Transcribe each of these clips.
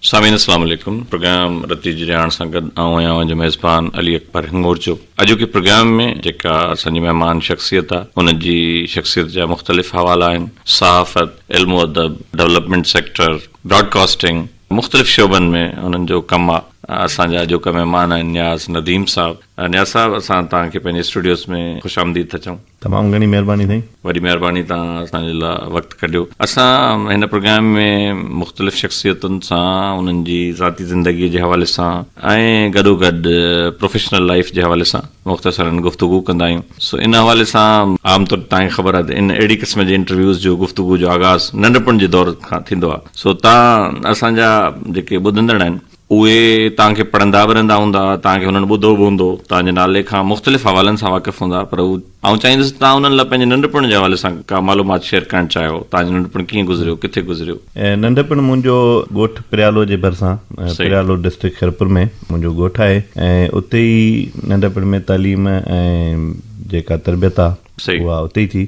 سامعين السلام عليڪم پروگرام رتي جي رهاڻ سان گڏ آئون آهيان اوهان جو ميزبان علي اڪبر هڱور چپ اڄوڪي پروگرام ۾ جيڪا اسان جي مهمان شخصيت آ ان جي شخصيت جا مختلف حوالا آهن صحافت علم و ادب ڊولپمينٽ سيڪٽر براڊ ڪاسٽنگ مختلف شعبن ۾ انهن جو ڪم آ اسان جا اڄوڪا مهمان آهن نياز نديم صاحب نياز صاحب اسان توهان کي پنهنجي اسٽوڊيوز ۾ خوش آمديد ٿا چئون. تمام گهڻي مهرباني سائين. وڏي مهرباني توهان اسان جي لا وقت ڪڍيو اسان هن پروگرام ۾ مختلف شخصيتن سان انهن جي ذاتي زندگي جي حوالي سان ۽ گڏو گڏ پروفيشنل لائيف جي حوالي سان مختصرا گفتگو ڪندا آهيون سو ان حوالي سان عام طور توهان کي خبر آهي ته ان اهڙي قسم جي انٽرويوز جو گفتگو جو آغاز ننڍپڻ جي دور کان ٿيندو آهي سو توهان اسان جا جيڪي ٻڌندڙ آهن اهي توهان کي پڙهندا به رهندا هوندا، توهان کي هنن ٻڌو به هوندو، توهان جي نالي کان مختلف حوالن سان واقف هوندا، پر آئون چاهيندس ته توهان انهن لاء پنهنجي ننڍپڻ جي حوالي سان ڪا معلومات شيئر ڪرڻ چاهيو، توهان جو ننڍپڻ ڪيئن گذريو، ڪٿي گذريو؟ ننڍپڻ منهنجو ڳوٺ پريالو جي ڀرسان، پريالو ڊسٽرڪٽ خيرپور ۾ منهنجو ڳوٺ آهي ۽ اتي ئي ننڍپڻ ۾ تعليم ۽ جيڪا تربيت آهي اها اتي ئي ٿي.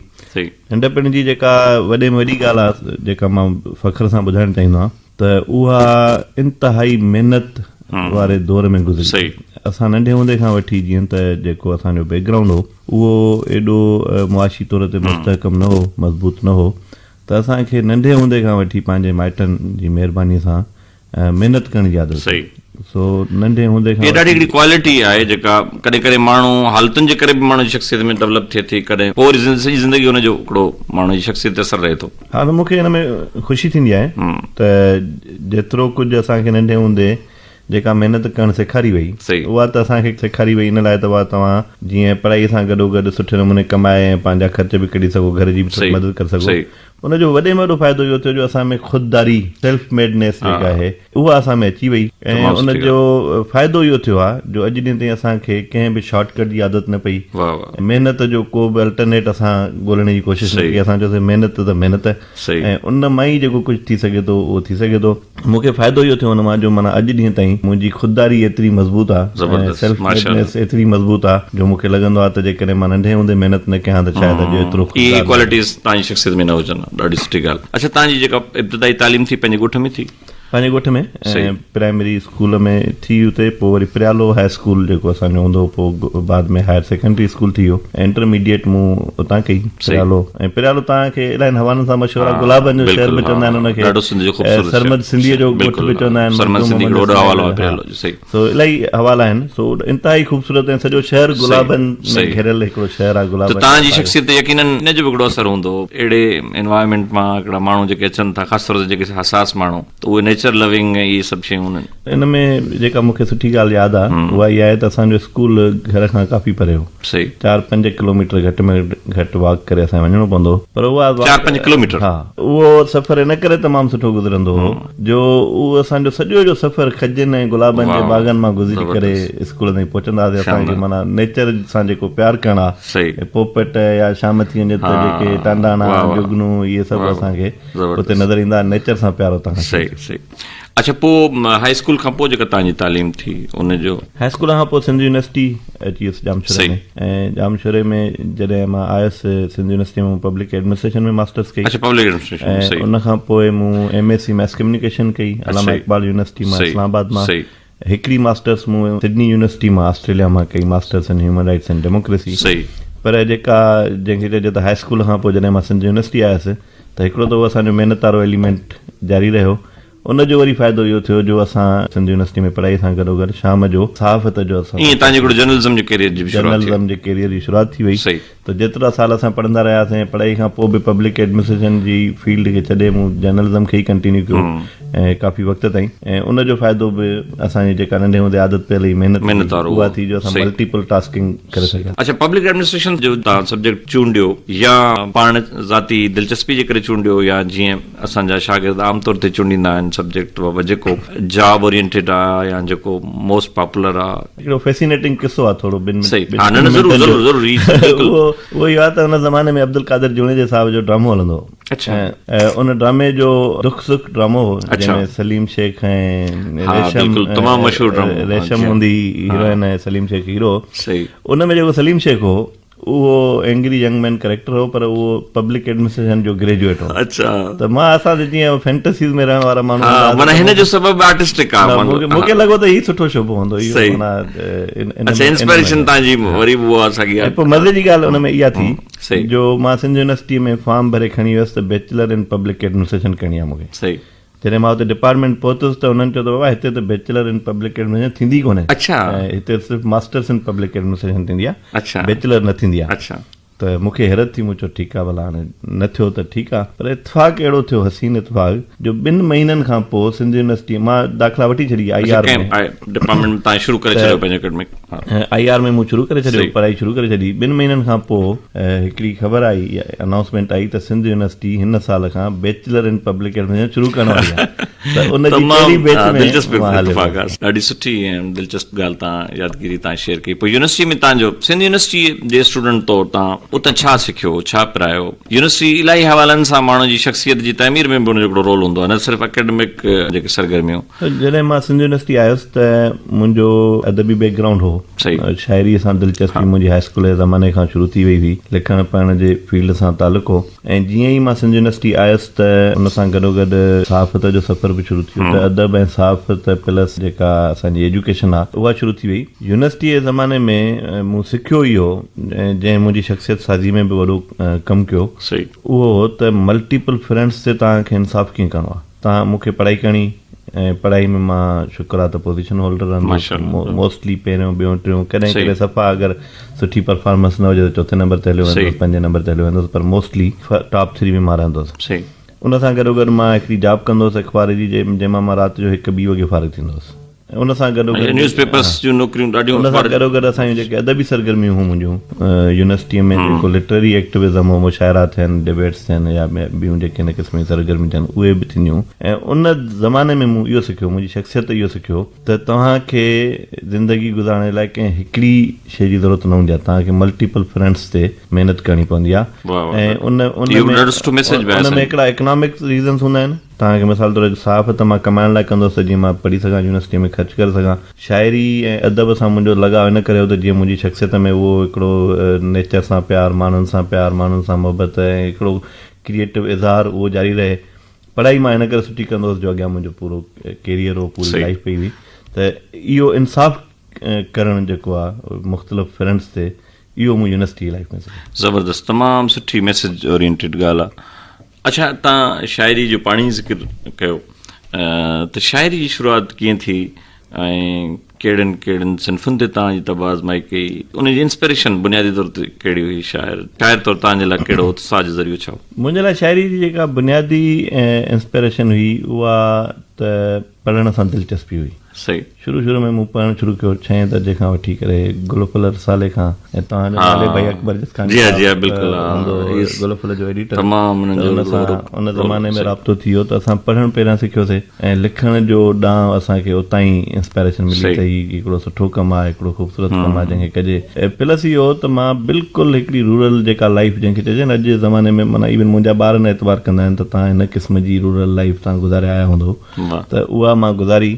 ننڍپڻ جي جيڪا وڏي ۾ وڏي ڳالهه آهي جيڪا مان فخر سان ٻڌائڻ چاهيندو آهيان، ته اها انتهائي محنت واري دور ۾ گذري اسان ننڍي هوندي کان وٺي جيئن ته جيڪو اسان جو بيڪ گرائونڊ هو اهو ايڏو معاشي طور تي مستحڪم نه هو مضبوط نه هو ته اسان کي ننڍي هوندي کان وٺي پنهنجي مائٽن جي مهرباني سان محنت ڪرڻ جي عادت هئي سو ننڍي هوندي کان هيء ڏاڍي هڪڙي ڪوالٽي آهي جيڪا ڪڏهن ڪڏهن ماڻهو حالتن جي ڪري به ماڻهو جي شخصيت ۾ ڊولپ ٿئي ٿي ڪڏهن پوري سڄي زندگي هن جو هڪڙو ماڻهو جي شخصيت تي اثر رهي ٿو. ها ته مون کي ان ۾ خوشي ٿيندي آهي ته جيترو ڪجهه اسان کي ننڍي هوندي جيڪا محنت ڪرڻ سيکاري وئي اها ته اسان کي سيکاري وئي ان لاء ته اها توهان جيئن پڙهائي سان گڏو گڏ سٺي نموني ڪمائي ۽ پنهنجا خرچ به ڪڍي سگهو گهر جي به ٿوري مدد ڪري سگهو ان جو وڏي ۾ وڏو فائدو اهو ٿيو جو اسان ۾ خودداري Self Made Ness جيڪا آهي اها اسان ۾ اچي وئي ۽ ان جو فائدو اهو ٿيو آهي جو اڄ ڏينهن تائين اسان کي ڪنهن به شارٽ ڪٽ جي عادت نه پئي محنت جو ڪو به الٽرنيٽ اسان ڳولڻ جي ڪوشش نه ڪئي اسان چيوسي محنت ته محنت ۽ ان مان ئي جيڪو ڪجهه ٿي سگهي ٿو اهو ٿي سگهي ٿو مون کي فائدو اهو ٿيو ان مان جو معنيٰ اڄ ڏينهن تائين منهنجي خودداري ايتري مضبوط آهي ۽ سيلف ميڊنس ايتري مضبوط آهي جو مون کي لڳندو آهي ته جيڪڏهن مان ننڍي هوندي محنت نه ڪيان ها ته شايد اڄ ايترو خوددار نه هجان. اهي ڪوالٽيز تنهنجي شخصيت ۾ نه هجن ها ڏاڍي سٺي ڳالهه اڇا تنهنجي جيڪا ابتدائي تعليم ٿي پنهنجي ڳوٺ ۾ ٿي؟ پنهنجي ڳوٺ ۾ پرائمري اسڪول ۾ ٿي اتي پوء وري پريالو هاء اسڪول جيڪو اسان جو هوندو هو پوء بعد ۾ هائر سيڪنڊري اسڪول ٿي ويو انٽرميڊيٽ مون اتان ڪئي پريالو ۽ پريالو تان کي الائن حوالن سان مشهور آهي گلابن جو شهر به چوندا آهن ان کي سرمد سنڌي جو ڳوٺ به چوندا آهن سرمد سنڌي جو ڏاڍو وڏو حوالو آهي پريالو جو صحيح سو الائي حوال آهن سو انتهائي خوبصورت ۽ سڄو شهر گلابن ۾ گهيريل هڪڙو شهر آهي گلابن ته تهان جي شخصيت تي يقينن ان جو به هڪڙو اثر هوندو اهڙي انوائرمينٽ مان هڪڙا ماڻهو جيڪي اچن ٿا خاص طور تي جيڪي حساس ماڻهو ته اهي نيچر لوينگ ۽ اهي سڀ شيون انهن ان ۾ جيڪا مونکي سٺي ڳالهه ياد آهي اها اها آهي ته اسان جو اسڪول گهر کان ڪافي پري هو صحيح چار پنج ڪلوميٽر گهٽ ۾ گهٽ واڪ ڪري اسان کي وڃڻو پوندو هو پر اها چار پنج ڪلوميٽر ها اهو سفر ان ڪري تمام سٺو گذرندو هو جو اهو اسان جو سڄو جو سفر کجين ۽ گلابن جي باغن مان گذري ڪري اسڪول تائين پهچندا هئاسين اسان کي معنيٰ نيچر سان جيڪو پيار ڪرڻ ها ۽ پوپٽ يا شامتيون جي اتي جيڪي ٽانڊاڻا جگنو اهي سڀ اسان کي اتي نظر ايندا ها نيچر سان پيار اتان کان شروع ٿيو سھي سھي اڇا پو هاء اسڪول کان پو جيڪا توهان جي تعليم ٿي ان جو. هاء اسڪول کان پو سنڌ يونيورسٽي اچي ويس ڄامشوري ۾. ۽ ڄامشوري ۾ جڏهن مان آيس سنڌ يونيورسٽي ۾ مون پبلڪ ايڊمنسٽريشن ۾ ماسٽرس ڪئي اڇا پبلڪ ايڊمنسٽريشن ۾ ۽ صحيح ان کان پوء مون M S C mass communication ڪئي اڇا علامه صحيح اقبال يونيورسٽي مان صحيح اسلام آباد مان صحيح هڪڙي ماسٽرس مون سڊني يونيورسٽي مان آسٽريليا مان ڪئي masters in human rights and democracy صحيح پر جيڪا جنهن کي چئجي ته هاء اسڪول کان پوء جڏهن مان سنڌ يونيورسٽي آيس ته هڪڙو ته اهو اسان جو محنت وارو ايليمينٽ جاري رهيو ان جو وري فائدو اهو ٿيو جو اسان سنڌ يونيورسٽيء ۾ پڙهائيء سان گڏوگڏ شام جو صحافت جو اسان ايئن تنهنجي ڪوٺي جرنلزم جي ڪيريئر جي به شروعات ٿي وئي. جرنلزم جي ڪيريئر جي شروعات ٿي وئي صحيح. ته جيترا سال اسان پڙهندا رهياسين ۽ پڙهائي کان پوء به پبلڪ ايڊمنسٽريشن جي فيلڊ کي ڇڏي مون جرنلزم کي ئي ڪنٽينيو ڪيو ۽ ڪافي وقت تائين ۽ ان جو فائدو به اسان جي جيڪا ننڍي هوندي عادت پيل هئي محنت محنت جي وارو اها ٿي جو اسان صحيح. ملٽيپل ٽاسڪنگ ڪري صحيح. سگهياسين. اڇا پبلڪ ايڊمنسٽريشن جو تان سبجيڪٽ چونڊيو يا پاڻ ذاتي دلچسپي جي ڪري چونڊيو يا جيئن؟ اسان جا شاگرد عام طور تي چونڊيندا آهن سبجيڪٽ بابت جيڪو جاب اورينٽيڊ آ يا جيڪو موسٽ پاپولر آ. هڪڙو فيسينيٽنگ قصو آ ٿورو ٻن منٽن جو اهو اهي آ ته ان زماني ۾ عبدالقادر جوڻيجي صاحب جو ڊرامو هلندو هو ۽ ان ڊرامي جو دک سک ڊرامو هو جنهن ۾ سليم شيخ ۽ ريشم ريشم هوندي هيروئن ۽ سليم شيخ هيرو هو ان ۾ جيڪو سليم شيخ هو اهو اينگري ينگ مين ڪريڪٽر هو پر اهو پبلڪ ايڊمنسٽريشن جو گريجوئيٽ هو اڇا ته مان اسان تي جيئن فينٽسيز ۾ رهڻ وارا ماڻهو ها معنيٰ هن جو سبب آرٽسٽڪ آ مون کي لڳو ته هي سٺو شعبو هوندو اهو معنيٰ اڇا انسپيريشن تان جي وري به هو اسان کي پوء مزي جي ڳالهه ان ۾ اها ٿي جو مان سنڌ يونيورسٽي ۾ فارم ڀري کڻي ويس ته بيچلر ان پبلڪ ايڊمنسٽريشن ڪرڻي آ مون کي صحيح جڏهن مان اتي ڊپارٽمينٽ پهتس ته انهن چيو ته بابا هتي ته بيچلر ان پبلڪ ايڊمنسٽريشن ٿيندي ئي ڪونهي ۽ هتي صرف ماسٽرس ان پبلڪ ايڊمنسٽريشن ٿيندي آهي بيچلر نه ٿيندي آهي ته مون کي حيرت ٿي مون چيو ٺيڪ آهي ڀلا هاڻي نه ٿيو ته ٺيڪ آهي پر اتفاق اهڙو ٿيو حسين اتفاق جو ٻن مهينن کان پوء سنڌ يونيورسٽي مان داخلا وٺي ڇڏي آئي آر ۾ ڊپارٽمينٽ ۾ تان شروع ڪري ڇڏيو پنهنجو اڪيڊمڪ آء آر ۾ مون شروع ڪري ڇڏيو پڙهائي شروع ڪري ڇڏي ٻن مهينن کان پوء هڪڙي خبر آئي يا انائونسمينٽ آئي ته سنڌ يونيورسٽي هن سال کان بيچلر ان پبلڪ ايڊمنسٽريشن شروع ڪرڻ واري آهي ته ان جي ڪهڙي بيچ ۾ دلچسپ اتفاق آهي ڏاڍي سٺي ۽ دلچسپ ڳالهه تان يادگيري تان شيئر ڪئي پوء يونيورسٽي ۾ تان جو سنڌ يونيورسٽي جي اسٽوڊنٽ طور تان اتان ڇا سکيو ڇا پرايو يونيورسٽي الاهي حوالن سان ماڻهو جي شخصيت جي تعمير ۾ به ان جو هڪڙو رول هوندو آهي نه صرف اڪيڊمڪ جيڪي سرگرميون جڏهن مان سنڌ يونيورسٽي آيس ته منهنجو ادبي بيڪ گرائونڊ هو. شاعريء سان دلچسپي منهنجي هاء اسڪول جي زماني کان شروع ٿي وئي هئي. لکڻ پڙهڻ جي فيلڊ سان تعلق هو ۽ جيئن ئي مان سنڌ يونيورسٽي آيس ته ان سان گڏوگڏ صحافت جو سفر به شروع ٿيو ته ادب ۽ صحافت پلس جيڪا اسان جي ايجوڪيشن آهي اها شروع ٿي وئي. يونيورسٽيء جي زماني ۾ مون سکيو ئي هو جنهن منهنجي شخصيت سازيء ۾ به وڏو ڪم ڪيو اهو هو ته ملٽيپل فرنٽس تي توهان کي انصاف ڪيئن ڪرڻو آهي. تان مون کي پڙهائي ڪرڻي ۽ پڙهائي ۾ مان شڪر آ ته پوزيشن هولڊر رهندس موسٽلي پهريون ٻيون ٽيون ڪڏهن ڪڏهن صفا اگر سٺي پرفارمنس نه هجي ته چوٿين نمبر تي هليو ويندس پنجين نمبر تي هليو ويندس پر موسٽلي ٽاپ ٿري ۾ مان رهندس ان سان گڏو گڏ مان هڪڙي جاب ڪندو هوس اخبار جي جنهن مان مان رات جو هڪ ٻي وڳي فارغ ٿيندو هوس. ان سان گڏو گڏ نيوز پيپرس جون نوڪريون ڏاڍيون ان سان گڏو گڏ اسان جون جيڪي ادبي سرگرميون هيون منهنجون يونيورسٽيء ۾ جيڪو لٽرري ايڪٽيوزم هو مشاعرا ٿين ڊبيٽس ٿين يا ٻيون جيڪي هن قسم جون سرگرميون ٿين اهي به ٿينديون هيون ۽ ان زماني ۾ مون اهو سکيو منهنجي شخصيت اهو سکيو ته توهان کي زندگي گذارڻ جي لاء ڪنهن هڪڙي شيء جي ضرورت نه هوندي آهي توهان کي ملٽيپل فرنٽس تي محنت ڪرڻي پوندي آهي ۽ ان ان ۾ ان ۾ هڪڙا اڪنامڪ ريزنس هوندا آهن توهان کي مثال طور هڪ صحافت ته مان ڪمائڻ لاء ڪندو هوس جيئن مان پڙهي سگهان يونيورسٽيء ۾ خرچ ڪري سگهان. شاعري ۽ ادب سان منهنجو لڳاء ان ڪري هو ته جيئن منهنجي شخصيت ۾ اهو هڪڙو نيچر سان پيار، ماڻهن سان پيار، ماڻهن سان محبت ۽ هڪڙو ڪريئيٽو اظهار اهو جاري رهي. پڙهائي مان ان ڪري سٺي ڪندو هوس جو اڳيان منهنجو پورو ڪيريئر هو، پوري لائيف پئي هئي ته اهو انصاف ڪرڻ جيڪو آ مختلف فرنٽس تي اهو مون يونيورسٽيء جي لائيف ۾ سکيو. زبردست تمام سٺي ميسج اورينٽيڊ ڳالهه آ. اڇا تان شاعري جو پاڻ ئي ذڪر ڪيو ته شاعري جي شروعات ڪيئن ٿي ۽ ڪهڙن ڪهڙن صنفن تي تان جي طبع آزمائي ڪئي ان جي انسپريشن بنيادي طور تي ڪهڙي هئي شاعر شاعر طور تان جي لاء ڪهڙو اتساهه جو ذريعو ڇا هو. منهنجي لاء شاعري جي جيڪا بنيادي انسپريشن هئي اها ته پڙهڻ سان دلچسپي هئي. صحيح. شروع شروع ۾ مون پڙهڻ شروع ڪيو ڇهين درجي کان وٺي ڪري گل و ڦل رسالي کان ۽ توهان جو نالي ڀائي اڪبر جسڪاڻي صاحب جي ها جي ها هوندو هو بلڪل گل و ڦل جو ايڊيٽر تمام انهن ته جو ان سان رول ان رول زماني ۾ صحيح رابطو ٿي ويو ته اسان پڙهڻ پهريان سکيو سي ۽ لکڻ جو ڏانء اسان کي اتان ئي انسپائريشن ملي ته صحيح هي هڪڙو سٺو ڪم آهي هڪڙو خوبصورت ڪم آهي جنهن کي ڪجي ۽ پلس اهو ته مان بلڪل هڪڙي رورل جيڪا لائيف جنهن کي چئجي نه اڄ جي زماني ۾ معنيٰ ايون منهنجا ٻار نه اعتبار ڪندا آهن ته توهان هن قسم جي رورل لائيف توهان گذاري آيا هوندو ته اها مان گذاري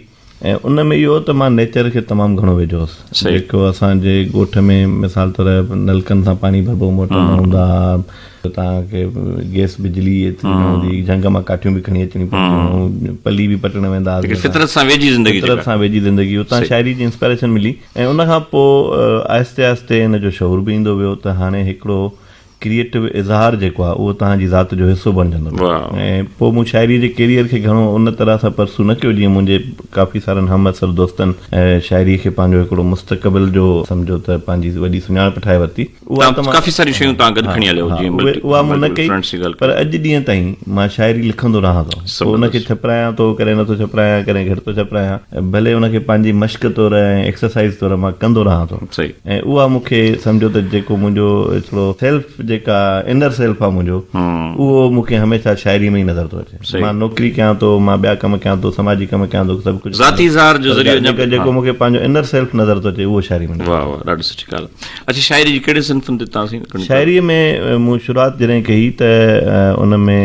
۽ ان ۾ اهو هو ته مان نيچر کي تمام گهڻو ويجهو هوس جيڪو اسان جي ڳوٺ ۾ مثال طور نلڪن سان پاڻي ڀربو موٽر نه هوندا ها تان کي گيس بجلي ايتري نه هوندي هئي جهنگ مان ڪاٺيون به کڻي اچڻيون پونديون هيون پلي به پٽڻ ويندا هئاسين ليڪن فطرت سان ويجهي زندگي فطرت سان ويجهي زندگي اتان شاعري جي انسپائريشن ملي ۽ ان کان پوء آهستي آهستي ان جو شعور به ايندو ويو ته هاڻي هڪڙو ڪريئيٽو اظهار جيڪو آهي اهو توهان جي ذات جو حصو بڻجندو ۽ پوء مون شاعري جي ڪيريئر کي گهڻو ان طرح سان پرسو نه ڪيو جيئن منهنجي ڪافي سارن همعصر دوستن شاعري کي پنهنجو هڪڙو مستقبل جو سمجهو ته پنهنجي وڏي سڃاڻپ ٺاهي ورتي اها ته ڪافي ساريون شيون توهان گڏ کڻي هليو جيئن اها مون نه ڪئي پر اڄ ڏينهن تائين مان شاعري لکندو رهان ٿو پوء ان کي ڇپرايان ٿو ڪڏهن نه ٿو ڇپرايان ڪڏهن گهٽ ٿو ڇپرايان ڀلي ان کي پنهنجي مشق طور ۽ ايڪسرسائيز طور مان ڪندو رهان ٿو ۽ اها مون کي سمجهو ته جيڪو منهنجو هڪڙو سيلف جيڪا انر سيلف آهي منهنجو اهو مون کي هميشه شاعري ۾ ئي نظر ٿو اچي مان نوڪري ڪيان ٿو مان ٻيا ڪم ڪيان ٿو سماجي ڪم ڪيان ٿو سڀ ڪجهه ذاتي اظهار جو ذريعو پر جيڪو مون کي پنهنجو انر سيلف نظر ٿو اچي اهو شاعري ۾ واهه واهه ڏاڍي سٺي ڳالهه اڇي شاعري جي ڪهڙي صنفن تي توهان سين شاعري ۾ مون شروعات جڏهن ڪئي ته ان ۾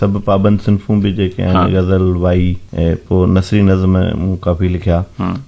سڀ پابند صنفون به جيڪي آهن غزل وائي پوء نثري نظم مون ڪافي لکيا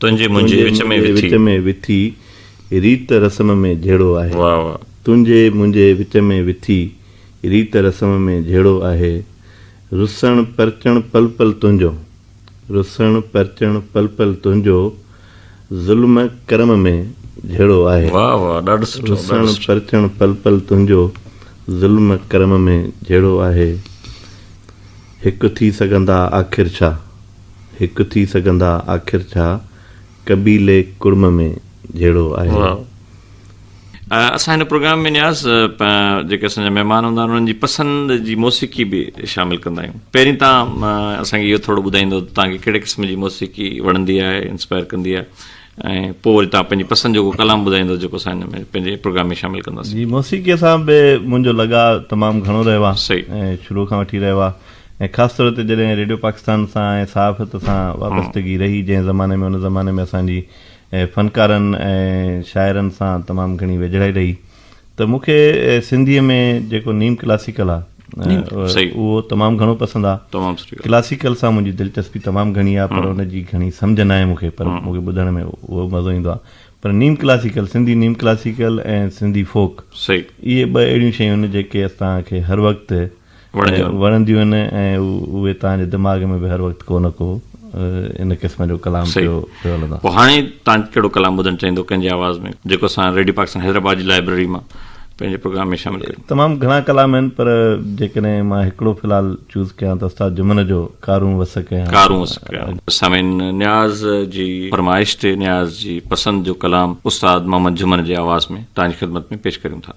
تنهنجي منهنجي وچ ۾ وٿي. تنهنجي منهنجي وچ ۾ وٿي ريت رسم ۾ جهيڙو آهي. واهه واهه. تنهنجي منهنجي وچ ۾ وٿي ريت رسم ۾ جهيڙو آهي. رسڻ پرچڻ پل پل تنهنجو. رسڻ پرچڻ پل پل تنهنجو ظلم ڪرم ۾ جهيڙو آهي. واهه واهه ڏاڍو سٺو ڏاڍو سٺو. رسڻ پرچڻ پل پل تنهنجو ظلم ڪرم ۾ جهيڙو آهي. هڪ ٿي سگهندا آخر ڇا؟ هڪ ٿي سگهندا آخر ڇا قبيلي ڪڙم ۾ جهيڙو آهي. اسان هن پروگرام ۾ نياز جيڪي اسان جا مهمان هوندا آهن انهن جي پسند جي موسيقي به شامل ڪندا آهيون پهرين تان اسان کي اهو ٿورو ٻڌائيندو ته تان کي ڪهڙي قسم جي موسيقي وڻندي آهي انسپائر ڪندي آهي ۽ پوء وري تان پنهنجي پسند جو ڪو ڪلام ٻڌائيندو جيڪو اسان هن ۾ پنهنجي پروگرام ۾ شامل ڪنداسين جي موسيقي سان به منهنجو لڳاء تمام گهڻو رهيو آهي ۽ شروع کان وٺي رهيو آهي ۽ خاص طور تي جڏهن ريڊيو پاڪستان سان ۽ صحافت سان وابستگي رهي جنهن زماني ۾ ان زماني ۾ اسان جي فنڪارن ۽ شاعرن سان تمام گهڻي ويجهڙائي رهي ته مون کي سنڌي ۾ جيڪو نيم ڪلاسيڪل آ اهو تمام گهڻو پسند آ ڪلاسيڪل سان منهنجي دلچسپي تمام گهڻي آ پر ان جي گهڻي سمجهه ناهي مون کي پر مون کي ٻڌڻ ۾ اهو مزو ايندو آ پر نيم ڪلاسيڪل سنڌي نيم ڪلاسيڪل ۽ سنڌي فوڪ اهي ٻه اهڙيون شيون آهن جيڪي اسان کي هر وقت وڻنديون آهن ۽ اهي توهان جي دماغ ۾ به هر وقت ڪو نه ڪو ان قسم جو ڪلام پيو هلندو آهي هاڻي توهان ڪهڙو ڪلام ٻڌڻ چاهيندو ڪنهن جي آواز ۾ جيڪو اسان ريڊيو پاڪستان حيدرآباد جي لائبريري مان پنهنجي پروگرام ۾ شامل ڪريون تمام گهڻا ڪلام آهن پر جيڪڏهن مان هڪڙو في الحال چوز ڪيان ته استاد جمن جو ڪارون وس ڪيان ڪارون وس ڪيان سامعين نياز جي فرمائش تي نياز جي پسند جو ڪلام استاد محمد جمن جي آواز ۾ توهان جي خدمت ۾ پيش ڪريون ٿا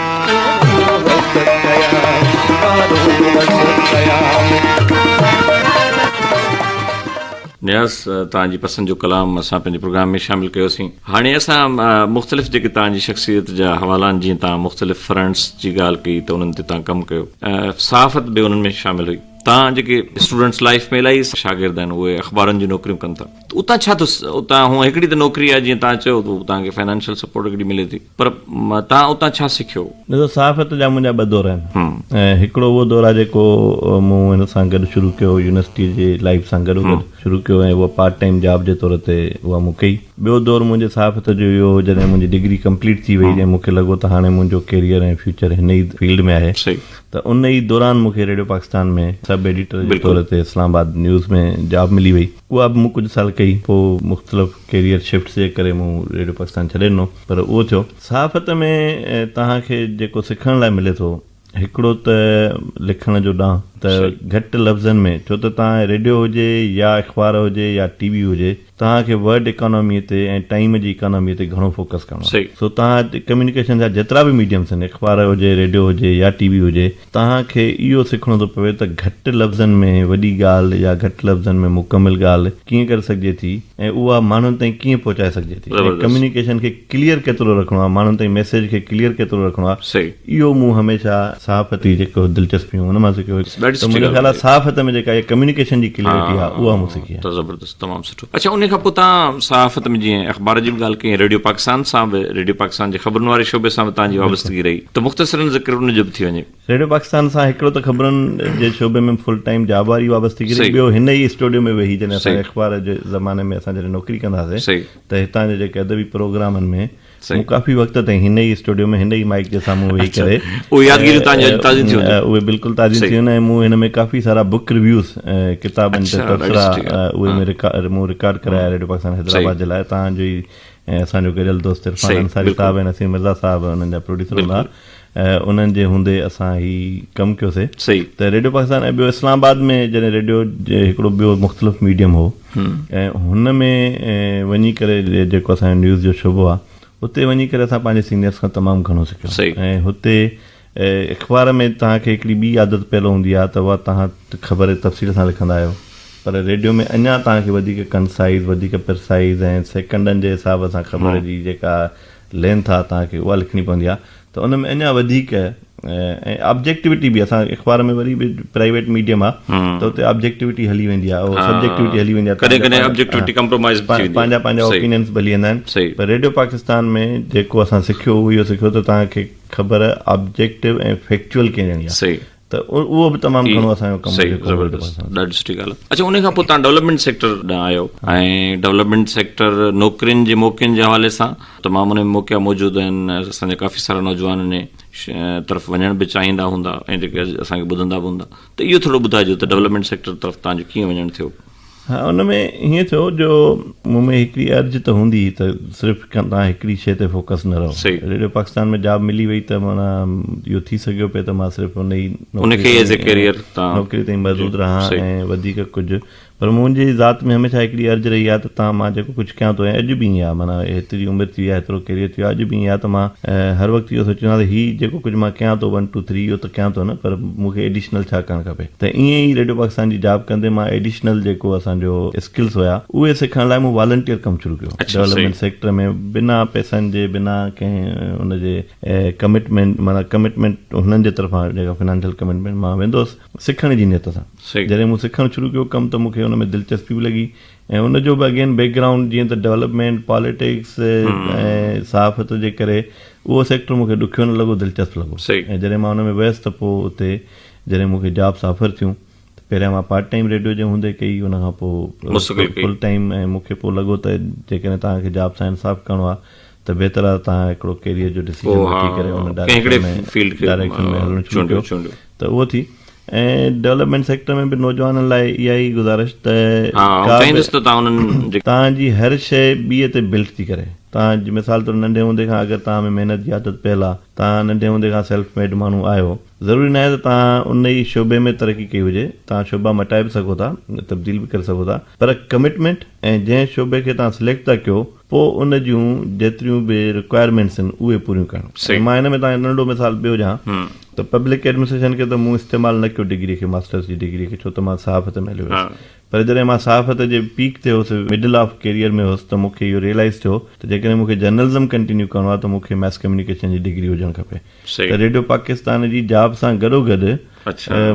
نياز توهان جي پسند جو ڪلام اسان پنهنجي پروگرام ۾ شامل ڪيوسين هاڻي اسان مختلف جيڪي توهان جي شخصيت جا حوالا آهن جيئن توهان مختلف فرنٽس جي ڳالهه ڪئي ته انهن تي توهان ڪم ڪيو صحافت به انهن ۾ شامل هئي توهان جيڪي اسٽوڊنٽس لائف ۾ الاهي شاگرد آهن اهي اخبارن جون نوڪريون ڪن ٿا اتان ڇا اتان هو هڪڙي ته نوڪري آهي جيئن توهان چيو اتان کي فائنانشل سپورٽ هڪڙي ملي ٿي پر توهان اتان ڇا سکيو؟ ڏسو صحافت جا منهنجا ٻه دورا آهن ۽ هڪڙو اهو دور آهي جيڪو مون هن سان گڏ شروع ڪيو هو يونيورسٽي جي لائيف سان گڏو گڏ شروع ڪيو ۽ اها پارٽ ٽائيم جاب جي طور تي اها مون ڪئي. ٻيو دور منهنجي صحافت جو اهو هو جڏهن منهنجي ڊگري ڪمپليٽ ٿي وئي ۽ مون کي لڳو ته هاڻي منهنجو ڪيريئر ۽ فيوچر هن ئي فيلڊ ۾ آهي ته ان ئي دوران مون کي ريڊيو پاڪستان ۾ سب ايڊيٽر جي طور تي اسلام آباد نيوز ۾ جاب ملي وئي. اها به مون ڪجهه سال ڪئي، پوء مختلف ڪيريئر شفٽس جي ڪري مون ريڊيو پاڪستان ڇڏي ڏنو، پر اهو ٿيو. صحافت ۾ توهان کي جيڪو سکڻ لاء ملي ٿو، هڪڙو ته لکڻ جو ڏانء ته گهٽ لفظن ۾، ڇو ته توهان ريڊيو هجي يا اخبار هجي يا ٽي وي هجي، توهان کي ورڊ اڪاناميء تي ۽ ٽائيم جي اڪاناميء تي گهڻو فوڪس ڪرڻو آهي. سو توهان ڪميونيڪيشن جا جيترا به ميڊيمز آهن، اخبار هجي، ريڊيو هجي يا ٽي وي هجي، توهان کي اهو سکڻو ٿو پوي ته گهٽ لفظن ۾ وڏي ڳالهه يا گهٽ لفظن ۾ مڪمل ڳالهه ڪيئن ڪري سگهجي ٿي ۽ اها ماڻهن تائين ڪيئن پهچائي سگهجي ٿي ۽ ڪميونيڪيشن کي ڪليئر ڪيترو رکڻو آهي ماڻهن تائين ميسيج کي ڪليئر ڪيترو رکڻو آهي اهو مون هميشه صحافتي جيڪو دلچسپي هئي ان مان سکيو ته منهنجو خيال آهي صحافت ۾ جيڪا اها ڪميونيڪيشن جي ڪليئرٽي آهي اها مون سکي آهي. تمام سٺو اڇا انهي کان پوء تهان صحافت ۾ جيئن اخبار جي به ڳالهه ڪئي ريڊيو پاڪستان سان به ريڊيو پاڪستان جي خبرن واري شعبي سان به تهان جي وابستگي رهي ته مختصرا ذڪر ان جو به ٿي وڃي. ريڊيو پاڪستان سان هڪڙو ته خبرن جي شعبي ۾ فل ٽائيم جاب واري وابستگي رهي ٻيو هن ئي اسٽوڊيو ۾ ويهي جڏهن اسان اخبار جي زماني ۾ اسان جڏهن نوڪري ڪندا هئاسي ته هتان جي جيڪي ادبي پروگرامن ۾. مون ڪافي وقت تائين هن ئي اسٽوڊيو ۾ هن ئي مائيڪ جي سامهون ويهي ڪري اهي يادگيريون تان جي تازيون ٿيون هونديون اهي بلڪل تازيون ٿيون ۽ مون هن ۾ ڪافي سارا بوڪ ريويوز ڪتابن تي تبصرا اهي مون رڪارڊ مون رڪارڊ ڪرايا ريڊيو پاڪستان حيدرآباد جي لاء تان جو ئي اسان جو گڏيل دوست عرفان انصاري صاحب ۽ نسيم مرزا صاحب انهن جا پروڊيوسر هوندا ۽ انهن جي هوندي اسان هي ڪم ڪيو سي ته ريڊيو پاڪستان ۽ ٻيو اسلام آباد ۾ جڏهن ريڊيو هڪڙو ٻيو مختلف ميڊيم هو ۽ هن ۾ وڃي ڪري جيڪو اسان جو نيوز جو شعبو آ اتي وڃي ڪري اسان پنهنجي سينيئرس کان تمام گهڻو سکيو ۽ هتي اخبار ۾ توهان کي هڪڙي ٻي عادت پيل هوندي آ ته اها توهان خبر تفصيل سان لکندا آهيو پر ريڊيو ۾ اڃا توهان کي وڌيڪ ڪنسائز وڌيڪ پرسائز ۽ سيڪنڊن جي حساب سان خبر جي جيڪا لھن ٿا تان کي اها لکڻي پوندي آ ته ان ۾ اڃا وڌيڪ ۽ آبجيڪٽوٽي به اسان اخبار ۾ وري به پرائيويٽ ميڊيم آ ته اتي آبجيڪٽوٽي هلي ويندي آ او سبجيڪٽوٽي هلي ويندي آ ڪڏهن ڪڏهن آبجيڪٽوٽي ڪمپرومائز به ٿي ويندي آ پنهنجا پنهنجا اوپينينس به هلي ويندا آهن پر ريڊيو پاڪستان ۾ جيڪو اسان سکيو اهو اهو سکيو ته تان کي خبر آبجيڪٽو ۽ فيڪچوئل ڪيئن ڏيڻي آ ته اهو به تمام گهڻو اسان جو ڪم آهي. زبردست ڏاڍي سٺي ڳالهه آهي. اڇا ان کان پوء تهان ڊولپمينٽ سيڪٽر ڏانهن آيو ۽ ڊولپمينٽ سيڪٽر نوڪرين جي موقعن جي حوالي سان تمام ان ۾ موقعا موجود آهن اسان جا ڪافي سارا نوجوان انهي طرف وڃڻ به چاهيندا هوندا ۽ جيڪي اسان کي ٻڌندا به هوندا ته اهو ٿورو ٻڌائجو ته ڊولپمينٽ سيڪٽر طرف تهان جو ڪيئن وڃڻ ٿيو. ها ان ۾ هيئن ٿيو جو مون ۾ هڪڙي ارج ته هوندي هئي ته صرف تنهن هڪڙي شيء تي فوڪس نه رهو. ريڊيو پاڪستان ۾ جاب ملي وئي ته معنيٰ اهو ٿي سگهيو پئي ته مان صرف ان ئي نوڪري تائين محدود رهان ۽ وڌيڪ ڪجهه پر منهنجي ذات ۾ هميشه هڪڙي ارج رهي آهي ته تان مان جيڪو ڪجهه ڪيان ٿو ۽ اڄ به ائين آهي معنيٰ هيتري عمر ٿي وئي آهي هيترو ڪيريئر ٿي ويو آهي اڄ به ائين آهي ته مان هر وقت اهو سوچيندو آهيان ته هي جيڪو ڪجهه مان ڪيان ٿو ون ٽو ٿري اهو ته ڪيان ٿو نه پر مون کي ايڊيشنل ڇا ڪرڻ کپي. ته ائين ئي ريڊيو پاڪستان جي جاب ڪندي مان ايڊيشنل جيڪو اسان جو اسڪلز هيا اهي سکڻ لاء مون والنٽيئر ڪم شروع ڪيو ڊولپمينٽ سيڪٽر ۾ بنا پئسن جي بنا ڪنهن ان جي ڪمٽمينٽ معنيٰ ڪمٽمينٽ هنن جي طرفان جيڪا فنانشل ڪمٽمينٽ مان ويندو هوس سکڻ جي نيت سان جڏهن مون سکڻ شروع ڪيو ڪم ته مونکي ان ۾ دلچسپي به لڳي ۽ ان جو به اگين بيڪ گرائونڊ جيئن ته ڊولپمينٽ پاليٽڪس ۽ صحافت جي ڪري اهو سيڪٽر مونکي ڏکيو نه لڳو دلچسپ لڳو ۽ جڏهن مان ان ۾ ويس ته پوء اتي جڏهن مون کي جابس آفر ٿيون ته پهريان مان پارٽ ٽائيم ريڊيو جي هوندي ڪئي ان کان پوء فل ٽائيم ۽ مون کي پوء لڳو ته جيڪڏهن توهان کي جاب سان انصاف ڪرڻو آهي ته بهتر آهي ته توهان هڪڙو ڪيريئر جو ڊسيزن وٺي ڪري ان ڊائريڪشن ۾ هلڻ شروع ڪيو ته اهو ٿي ۽ ڊولپمينٽ سيڪٽر ۾ به نوجوانن لاء اها ئي گذارش ته توهان جي هر شيء ٻي تي بلٽ ٿي ڪري توهان جي مثال طور ننڍي هوندي کان اگر توهان ۾ محنت جي عادت پيل آهي توهان ننڍي هوندي کان سيلف ميڊ ماڻهو آهيو ضروري ناهي ته توهان ان ئي شعبي ۾ ترقي ڪئي هجي، توهان شعبا مٽائي به سگهو ٿا، تبديل به ڪري سگهو ٿا، پر ڪمٽمينٽ ۽ جنهن شعبي کي توهان سليڪٽ ٿا ڪيو پوء ان جون جيتريون به رڪوائرمينٽس آهن اهي پوريون ڪرڻ. ۽ مان هن ۾ توهان کي ننڍڙو مثال ٻيو ڏيان ته پبلڪ ايڊمنسٽريشن کي ته مون استعمال نه ڪيو ڊگري کي، ماسٽرس جي ڊگري کي، ڇو ته مان صحافت ۾ هليو ويس، پر جڏهن مان صحافت جي پيڪ تي هوس، مڊل آف ڪيريئر ۾ هوس ته مون کي اهو ريئلائيز ٿيو ته جيڪڏهن مون کي جرنلزم ڪنٽينيو ڪرڻو آهي ته مون کي مئس ڪميونيڪيشن جي ڊگري هجڻ کپي ته ريڊيو پاڪستان جي جاب سان گڏو گڏ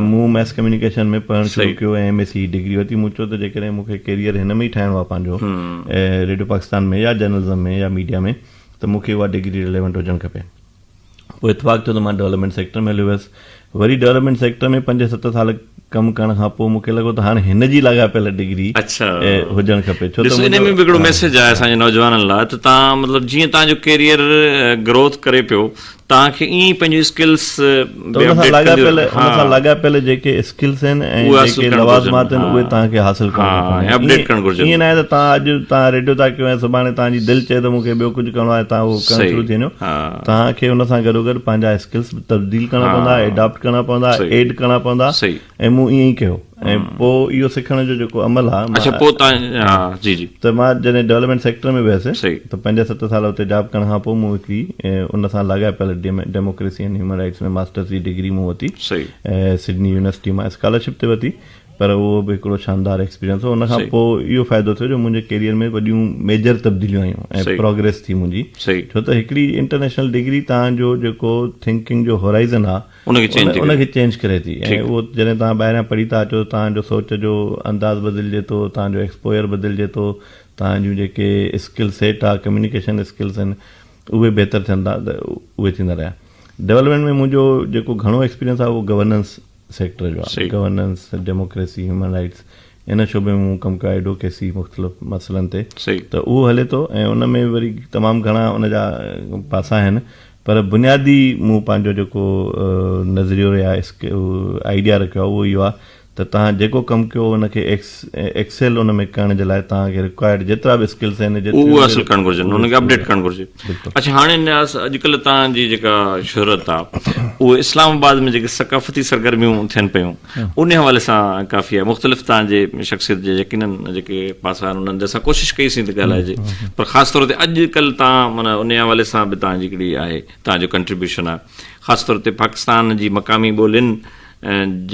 مون مئس ڪميونيڪيشن ۾ پڙهڻ شروع ڪيو ۽ ايم اي سي جي ڊگري ورتي. مون چيو ته جيڪڏهن مون کي ڪيريئر هن ۾ ئي ٺاهڻو آهي پنهنجو ريڊيو پاڪستان ۾ يا جرنلزم ۾ يا ميڊيا ۾ ته مون کي اها ڊگري ريليونٽ هجڻ کپي. پوء اتفاق ٿيو ته مان ڊولپمينٽ سيڪٽر ۾ هليو ويس. وري ڊولپمينٽ سيڪٽر ۾ پنج ست سال ڪم ڪرڻ کان پوء مون کي لڳو ته هاڻ هن جي لاڳاپيل ڊگري هجڻ کپي ڇو ته ان ۾ به هڪڙو ميسيج آهي اسان جي نوجوانن لاء ته تان مطلب جيئن تان جو ڪيريئر گروٿ ڪري پيو تان کي ائين پنهنجي اسڪلس ته ان سان لاڳاپيل ان سان لاڳاپيل جيڪي اسڪلس آهن ۽ جيڪي لوازمات آهن اهي توهان کي حاصل ڪرڻا پوندن اپڊيٽ ڪرڻ گهرجن ائين ناهي ته توهان اڄ توهان ريڊيو ٿا ڪيو ۽ سڀاڻي توهان جي دل چئي ته مون کي ٻيو ڪجهه ڪرڻو آهي توهان اهو ڪرڻ شروع ٿي وڃو توهان کي ان سان گڏوگڏ پنهنجا اسڪلس به تبديل ڪرڻا پوندا اڊاپٽ ڪرڻا پوندا ايڊ ڪرڻا پوندا ۽ مون ائين ئي ڪيو ۽ پوء اهو سکڻ جو جيڪو عمل آهي اڇا پوء تان ها جي جي ته مان جڏهن ڊولپمينٽ سيڪٽر ۾ ويس ته پنج ست سال اتي جاب ڪرڻ کان پوء مون هڪڙي ان سان لاڳاپيل democracy and human rights ۾ masters جي ڊگري مون ورتي سڊني يونيورسٽي مان اسڪالرشپ تي ورتي پر اهو به هڪڙو شاندار ايڪسپيرينس هو ان کان پوء اهو فائدو ٿيو جو منهنجي ڪيريئر ۾ وڏيون ميجر تبديليون آيون ۽ پروگريس ٿي منهنجي ڇو ته هڪڙي انٽرنيشنل ڊگري تان جو جيڪو ٿنڪنگ جو هورائزن آهي ان کي چينج ٿي ان کي چينج ڪري ٿي ۽ اهو جڏهن توهان ٻاهريان پڙهي ٿا اچو توهان جو سوچ جو انداز بدلجي ٿو توهان جو ايڪسپوئر بدلجي ٿو توهان جون جيڪي اسڪل سيٽ آهي ڪميونيڪيشن اسڪلس آهن اهي بهتر ٿين ٿا ته اهي ٿيندا رهيا ڊيولپمينٽ ۾ منهنجو جيڪو گهڻو ايڪسپيرينس آهي اهو گورننس سيڪٽر جو آهي گورننس ڊيموڪريسي هيومن رائٽس ان شعبي ۾ مون ڪم ڪيو ايڊوڪيسي مختلف مسئلن تي ته اهو هلي ٿو ۽ ان ۾ وري تمام گهڻا ان جا پاسا آهن پر بنيادي مون پنهنجو جيڪو نظريو يا آئيڊيا رکيو آهي اهو اهو آهي ته توهان جيڪو ڪم ڪيو ان کي ايڪسيل ان ۾ ڪرڻ جي لاء توهان کي رڪوائرڊ جيترا به اسڪلس آهن جيتري به اهي حاصل ڪرڻ گهرجن ان کي اپڊيٽ ڪرڻ گهرجي اڇا هاڻي نياز اڄڪلهه توهان جي جيڪا شهرت آهي اهو اسلام آباد ۾ جيڪي ثقافتي سرگرميون ٿين پيون انهي حوالي سان ڪافي آهي مختلف تان جي شخصيت جي يقينا جيڪي پاسا آهن انهن جي سان ڪوشش ڪئي سين ته ڳالهائجي پر خاص طور تي اڄ ڪل تان من انهي حوالي سان به تان جي ڪڙي آهي تان جو ڪنٽريبيوشن آهي خاص طور تي پاڪستان جي مقامي ٻولين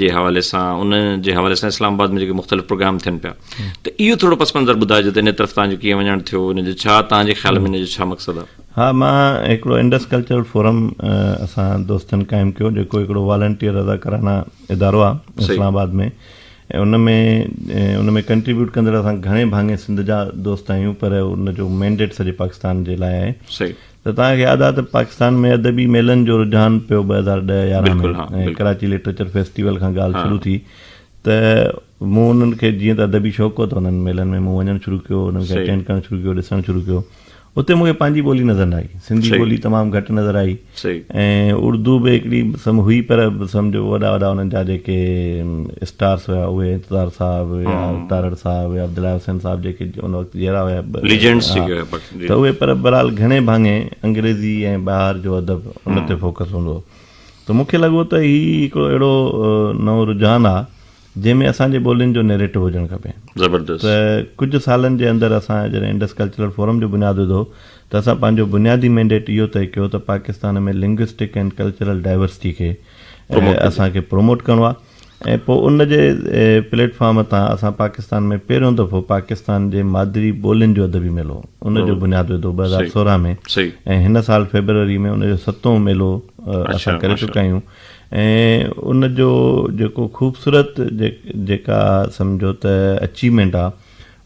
جي حوالي سان ان جي حوالي سان اسلام آباد ۾ جيڪي مختلف پروگرام ٿين پيا ته اهو ٿورو پس منظر ٻڌائجو ته ان طرف تان جو ڪيئن وڃڻ ٿيو ان جو ڇا تان جي خيال ۾ ان جو ڇا مقصد آهي ها مان هڪڙو انڊس ڪلچرل فورم اسان دوستن قائم ڪيو جيڪو هڪڙو والنٽيئر رضاڪارانه ادارو آهي اسلام آباد ۾ ان ۾ ان ۾ ڪنٽريبيوٽ ڪندڙ اسان گهڻي ڀاڱي سنڌ جا دوست آهيون پر ان جو مينڊيٽ سڄي پاڪستان جي لاء آهي صحيح ته توهان کي ياد آهي ته پاڪستان ۾ ادبي ميلن جو رجحان پيو ٻه هزار ڏهه يارهن ۾ ڪراچي لٽريچر فيسٽيول کان ڳالهه شروع ٿي ته مون انهن کي جيئن ته ادبي شوق هو ته انهن ميلن ۾ مون وڃڻ شروع ڪيو، انهن کي اٽينڊ ڪرڻ شروع ڪيو، ڏسڻ شروع ڪيو. اتي مون کي پنهنجي ٻولي نظر نه آئي، سنڌي ٻولي تمام گهٽ نظر آئي ۽ اردو به هڪڙي سم هئي پر سمجهو وڏا وڏا انهن جا جيڪي اسٽارس هيا اهي انتظار صاحب يا تارڙ صاحب يا عبدالله حسين صاحب جيڪي ان وقت جيئرا هيا ته اهي پر بهرحال گهڻي ڀاڱي انگريزي ۽ ٻاهر جو ادب ان تي فوڪس هوندو هو ته مون کي لڳو ته هي هڪڙو اهڙو نئون رجحان آ جنهن ۾ اسان جي ٻولين جو نيريٽو هجڻ کپي زبردست ته ڪجهه سالن جي اندر اسان جڏهن انڊس ڪلچرل فورم جو بنياد وڌو ته اسان پنهنجو بنيادي مينڊيٽ اهو طئي ڪيو ته Pakistan ۾ linguistic and cultural diversity کي اسان کي پروموٽ ڪرڻو آهي ۽ پوء ان جي پليٽ فارم تان اسان پاڪستان ۾ پهريون دفعو پاڪستان جي مادري ٻولين جو ادبي ميلو ان جو بنياد وڌو ٻه هزار سورهن ۾ ۽ هن سال فيبروري ۾ ان جو ستون ميلو اسان ڪري چڪا آهيون ۽ ان جو جيڪو خوبصورت جيڪا سمجهو ته اچيومينٽ آ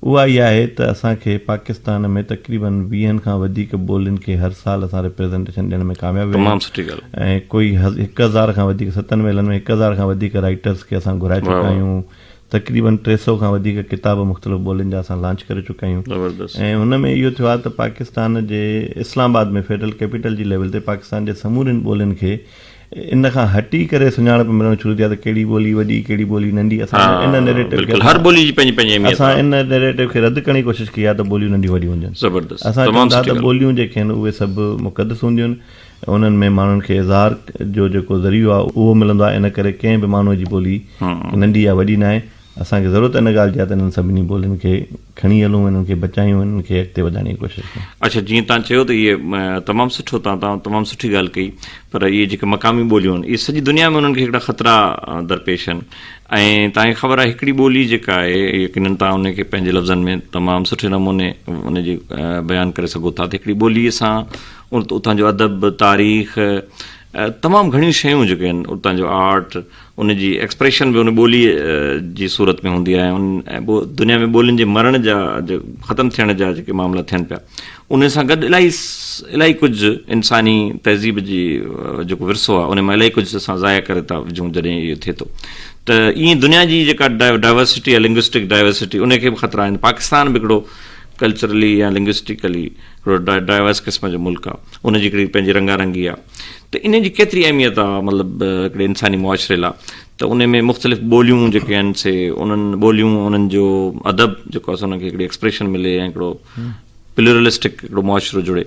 اها اها آهي ته اسان کي پاڪستان ۾ تقريباً ويهن کان وڌيڪ ٻولين کي هر سال اسان ريپريزنٽيشن ڏيڻ ۾ ڪامياب ويا آهيون ۽ ڪوئي هڪ هزار کان وڌيڪ ستن ميلن ۾ هڪ هزار کان وڌيڪ رائيٽرز کي اسان گهرائي چڪا آهيون تقريباً ٽي سئو کان وڌيڪ ڪتاب مختلف ٻولين جا اسان لانچ ڪري چڪا آهيون ۽ هن ۾ اهو ٿيو آهي ته پاڪستان جي اسلام آباد ۾ فيڊرل ڪيپيٽل جي ليول تي پاڪستان جي سمورين ٻولين کي ان کان هٽي ڪري سڃاڻپ ملڻ شروع ٿي آهي ته ڪهڙي ٻولي وڏي ڪهڙي ٻولي ننڍي اسان ان نيريٽو کي هر ٻولي جي پنهنجي پنهنجي اهميت آهي اسان ان نيريٽو کي رد ڪرڻ جي ڪوشش ڪئي آهي ته ٻوليون ننڍيون وڏيون هجن زبردست اسان چئون ٿا ته ٻوليون جيڪي آهن اهي سڀ مقدس هونديون آهن انهن ۾ ماڻهن کي اظهار جو جيڪو ذريعو آهي اهو ملندو آهي ان ڪري ڪنهن به ماڻهو جي ٻولي ننڍي يا وڏي ناهي اسان کي ضرورت ان ڳالهه جي آهي ته انهن سڀني ٻولين کي کڻي هلون ۽ انهن کي بچايون ۽ انهن کي اڳتي وڌائڻ جي ڪوشش ڪيون. اڇا جيئن تان چيو ته اهي تمام سٺو تان تان تمام سٺي ڳالهه ڪئي پر اهي جيڪي مقامي ٻوليون اهي سڄي دنيا ۾ انهن کي هڪڙا خطرا درپيش آهن ۽ تان کي خبر آهي هڪڙي ٻولي جيڪا آهي يقينن تان ان کي پنهنجي لفظن ۾ تمام سٺي نموني ان جي بيان ڪري سگهو ٿا ته هڪڙي ٻولي سان اتان جو ادب تاريخ تمام گهڻيون شيون جيڪي آهن اتان جو آرٽ ان جي ايڪسپريشن به ان ٻوليء جي صورت ۾ هوندي آهي ۽ دنيا ۾ ٻولين جي مرڻ جا ختم ٿيڻ جا جيڪي معاملا ٿين پيا ان سان گڏ الاهي الاهي ڪجهه انساني تهذيب جي جيڪو ورثو آهي ان مان الاهي ڪجهه اسان ضايع ڪري ٿا وجھون جڏهن اهو ٿئي ٿو ته ائين دنيا جي جيڪا ڊائورسٽي آهي لنگوسٽڪ ڊائورسٽي ان کي به خطرا آهن پاڪستان به هڪڙو ڪلچرلي يا لنگوسٽيڪلي هڪڙو ڊائورس قسم جو ملڪ آهي ان جي هڪڙي پنهنجي رنگا رنگي آهي ته انهن جي ڪيتري اهميت آهي مطلب هڪڙي انساني معاشري لاء ته ان ۾ مختلف ٻوليون جيڪي آهن سي انهن ٻوليون انهن جو ادب جيڪو آهي انهن کي هڪڙي ايڪسپريشن ملي ۽ هڪڙو پلورلسٽڪ هڪڙو معاشرو جڙي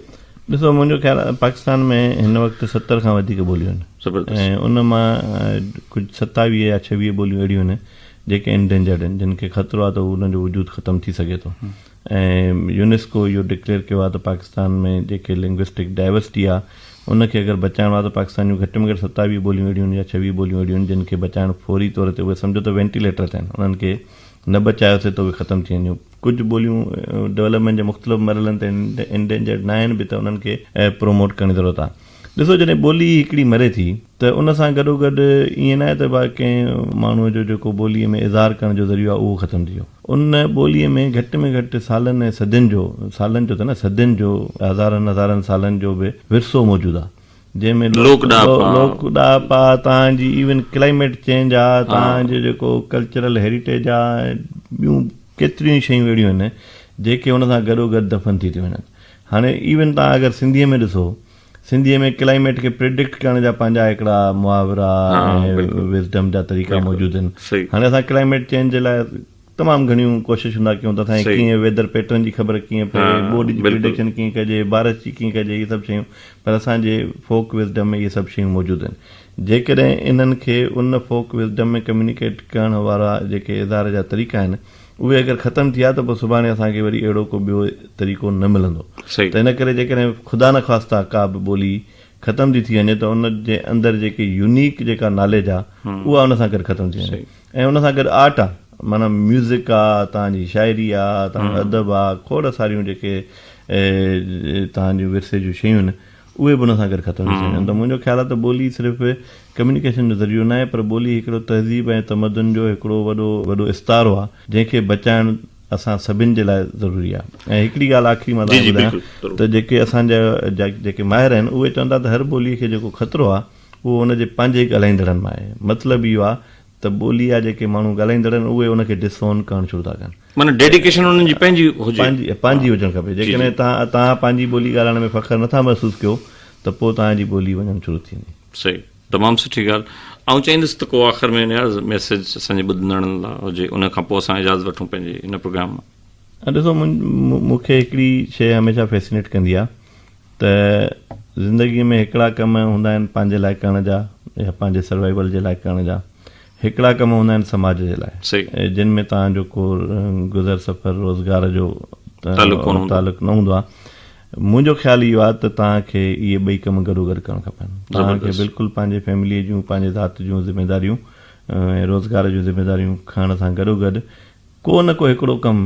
ڏسو منهنجو خيال آهي پاڪستان ۾ هن وقت ستر کان وڌيڪ ٻوليون آهن زبردست ۽ ان مان ڪجهه ستاويهه يا ڇويهه ٻوليون اهڙيون آهن جيڪي انڊينجرڊ آهن جن کي خطرو آهي ته انهن جو وجود ختم ٿي سگهي ٿو ۽ يونيسڪو اهو ڊڪليئر ڪيو آهي ته پاڪستان ۾ جيڪي لنگوسٽڪ ڊائيورسٽي آهي ان کي اگر بچائڻو آهي ته پاڪستان جون گهٽ ۾ گهٽ ستاويهه ٻوليون اهڙيون هن يا ڇويهه ٻوليون اهڙيون هن جن کي بچائڻ فوري طور تي اهي سمجهو ته وينٽيليٽر تي آهن انهن کي نه بچايوسي ته اهي ختم ٿي وينديون ڪجهه ٻوليون ڊولپمينٽ جي مختلف مرحلن تي انڊينجرڊ ناهن به ته انهن کي پروموٽ ڪرڻ جي ضرورت آهي. ڏسو جڏهن ٻولي هڪڙي مري ٿي ته ان سان گڏوگڏ ائين ناهي ته بس ڪنهن ماڻهوء جو جيڪو ٻوليء ۾ اظهار ڪرڻ جو ذريعو آهي اهو ختم ٿي ويو. ان ٻوليء ۾ گهٽ ۾ گهٽ سالن ۽ صدين جو، سالن جو ته نه صدين جو، هزارن هزارن سالن جو به ورثو موجود آهي جنهن ۾ لوڪ ڏاهپا، لوڪ ڏاهپا، تان جي ايون ڪلائميٽ چينج آ، تان جو جيڪو ڪلچرل هيريٽيج آ ۽ ٻيون ڪيتريون ئي شيون اهڙيون آهن جيڪي ان سان گڏوگڏ دفن ٿي ٿيون وڃن. هاڻي ايون تان اگر سنڌيء ۾ ڏسو سنڌيء ۾ ڪلائميٽ کي پريڊڪٽ ڪرڻ جا پنهنجا هڪڙا محاورا ۽ وزڊم جا طريقا موجود آهن هاڻي اسان ڪلائميٽ چينج جي لاء تمام گهڻيون ڪوششون ٿا ڪيون ته اسان کي ڪيئن ويدر پيٽرن جي خبر ڪيئن پئي ٻوڏ جي پريڊڪشن ڪيئن ڪجي بارش جي ڪيئن ڪجي اهي سڀ شيون پر اسان جي فوڪ وزڊم ۾ اهي سڀ شيون موجود آهن جيڪڏهن انهن کي ان فوڪ وزڊم ۾ ڪميونيڪيٽ ڪرڻ وارا جيڪي اظهار جا طريقا آهن اهي اگر ختم ٿيا ته پوء سڀاڻي اسان کي وري اهڙو ڪو ٻيو طريقو نه ملندو ته ان ڪري جيڪڏهن خدا نه خواستاه ڪا به ٻولي ختم ٿي ٿي وڃي ته ان جي اندر جيڪي يونيڪ جيڪا ناليج آ اها ان سان گڏ ختم ٿي وڃي ۽ ان سان گڏ آرٽ آ معنيٰ ميوزڪ آ توهان جي شاعري آ توهان جو ادب آ کوڙ ساريون جيڪي توهان جون ورثي جون شيون آهن اهي به ان سان گڏ ختم ٿي سگهن ٿا. منهنجو خيال آهي ته ٻولي صرف ڪميونيڪيشن جو ذريعو ناهي پر ٻولي هڪڙو تهذيب ۽ تمدن جو هڪڙو وڏو وڏو استعارو آهي جنهن کي بچائڻ اسان سڀن جي لاء ضروري آهي ۽ هڪڙي ڳالهه آخري مان توهان کي ٻڌايان ته جيڪي اسان جا جيڪي ماهر آهن اهي چون ٿا ته هر ٻولي کي جيڪو خطرو آهي اهو ان جي پنهنجي ڳالهائيندڙن مان آهي مطلب اهو آهي ته ٻولي جا جيڪي ماڻهو ڳالهائيندڙ آهن اهي ان کي ڊس اون ڪرڻ شروع ٿا ڪن. معنيٰ ڊيڊيڪيشن انهن جي پنهنجي هجي. پنهنجي هجڻ کپي. جيڪڏهن توهان پنهنجي ٻولي ڳالهائڻ ۾ فخر نٿا محسوس ڪيو ته پوء توهان جي ٻولي وڃڻ شروع ٿي ويندي. صحيح. تمام سٺي ڳالهه. آئون چاهيندس ته ڪو آخر ۾ نياز ميسيج اسان جي ٻڌندڙن لاء هجي ان کان پوء اسان اجازت وٺون پنهنجي هن پروگرام مان. ڏسو مون کي هڪڙي شيء هميشه فيسينيٽ ڪندي آهي ته زندگي ۾ هڪڙا ڪم هوندا آهن پنهنجي لاء ڪرڻ جا يا پنهنجي سروائيول جي لاء ڪرڻ جا هڪڙا ڪم هوندا آهن سماج جي لاء جن ۾ توهان جو ڪو گذر سفر روزگار جو تعلق نه هوندو آهي منهنجو خيال اهو آهي ته توهان کي اهي ٻئي ڪم گڏو گڏ ڪرڻ کپن توهان کي بلڪل پنهنجي فيملي جون پنهنجي ذات جون ذميداريون ۽ روزگار جون ذميداريون کڻڻ سان گڏو گڏ ڪو نه ڪو هڪڙو ڪم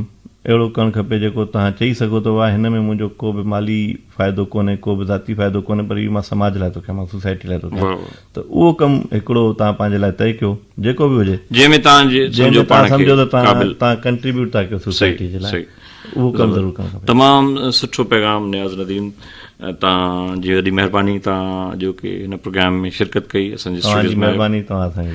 اهڙو ڪرڻ کپي جيڪو توهان چئي سگهو ته واهه هن ۾ منهنجو ڪو به مالي فائدو ڪونهي ڪو به ذاتي فائدو ڪونهي پر اهو مان سماج لاء ٿو ڪيان مان سوسائٽي لاء ٿو ڪيان ته اهو ڪم هڪڙو توهان پنهنجي لاء طئي ڪيو جيڪو به هجي جنهن ۾ توهان سمجهو پاڻ کي قابل توهان ڪنٽريبيوٽ ٿا ڪيو سوسائٽي جي لاء اهو ڪم ضرور ڪرڻ کپي. تمام سٺو پيغام نياز نديم توهان جي وڏي مهرباني توهان اڄوڪي هن پروگرام ۾ شرڪت ڪئي اسان جي اسٽوڊيوز ۾ آيو.